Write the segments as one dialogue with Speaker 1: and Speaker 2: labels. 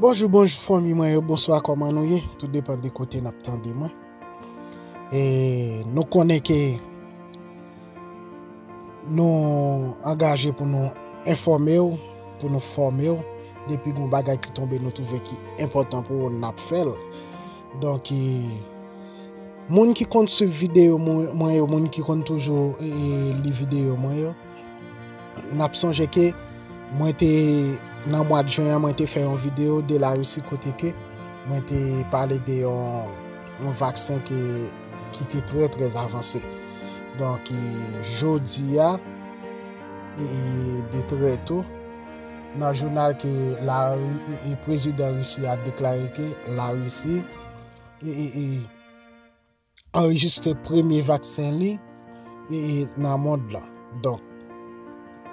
Speaker 1: Bonjou bonjou fanmi mwen yo bonswa kòman nou ye tout depan de kote nap tande mwen e nou konnen ke nou angaje pou nou enfòme ou pou nou fòme ou depi goun bagay ki tonbe nou touve ki enpòtan pou ou nap fèl donk e moun ki konn swiv videyo mwen yo moun ki konn toujou li videyo mwen yo. N ap sonje ke mwen te nan mwa de jen an mwen te fè yon video de la Russie kote ke mwen te pale de yon vaksen ki te trè trè avanse. Donk jodi a e de trè tou nan jounal ke la e prezidan Russie a deklare ke la Russie e e e anrejistre premye vaksen li nan mond lan. Donk,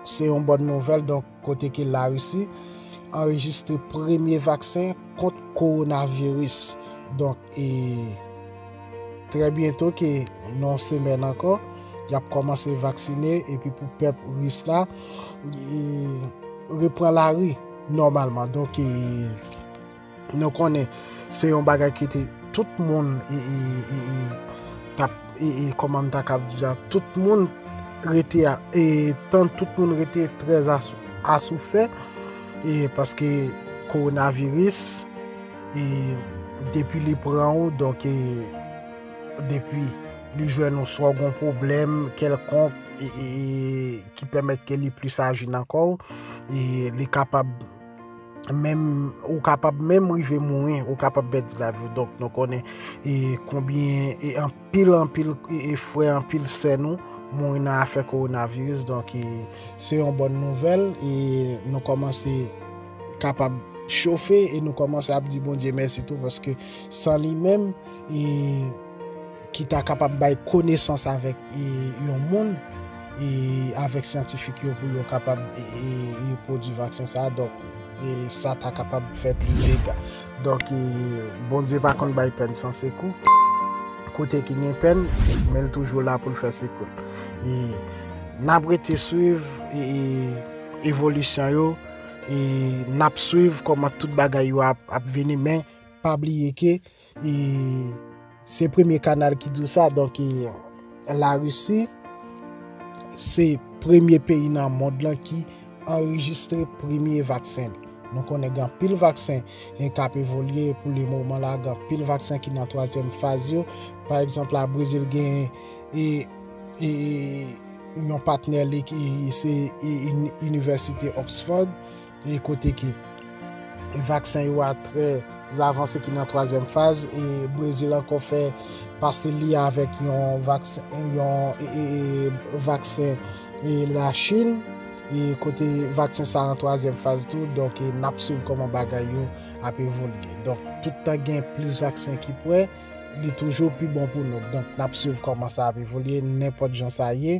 Speaker 1: se yon bòn nouvèl donk kote ke la Russie anrejistre premye vaksen kont kowonaviris. Donk, e trè byento ke nan semèn ankò, y ap kòmanse vaksine epi pou pèp ris la repran lari nòmalman. Donk, e... Nou konnen se yon bagay ki te tout moun tap e kòman ta kab di sa tout moun rete e tan tout moun rete trè asoufè e paske kowonaviris e depi li pran ou donk e depi li jwenn ou swa ou gon pwoblèm kèlkonk e ki pèmèt ke li plis aji nan kò ou e li kapab menm ou kapab menm rive mouri, ou kapab pèdi lavi ou. Donk nou konnen e konbyen e anpil anpil e frè anpil sè nou mouri nan afè koronaviris. Donk e se yon bòn nouvèl e nou kòmanse kapab chofe e nou kòmanse ap di Bondye mèsi tou paske san li menm e ki ta kapab bay konesans avèk yon moun, avèk syantifik yo pou yo kapab repwodui vaksen sa a, donk sa ta kapab fè plis dega. Donk, Bondye pa konn bay pèn san sekou, kote ki gen pèn, men l toujou la pou l fè sekou. N ap rete swiv evolisyon yo, n ap swiv kòman tout bagay yo ap vini, men pa bliye ke. E se premye kanal ki di w sa, donk e la Risi se premye peyi nan mond lan ki anrejistre premye vaksen li. Nou konnen gen anpil vaksen e kap evolye pou le moman la, gen anpil vaksen ki nan twazyèm faz yo. Pa egzanp la Brezil gen e e yon patnè li ki se inivèsite Oxford. e kote ke vaksen yo a trè avanse ki nan twazyèm faz, e Brezil ankò fè pase li avèk yon vaksen e la Chin, e kote vaksen sa nan twazyèm faz tou, donk e nap swiv kòman bagay yo ap evolye. Donk tout tan gen plis vaksen ki prè, li toujou pi bon pou nou, donk nap swiv kòman sa ap evolye, nenpòt jan sa ye.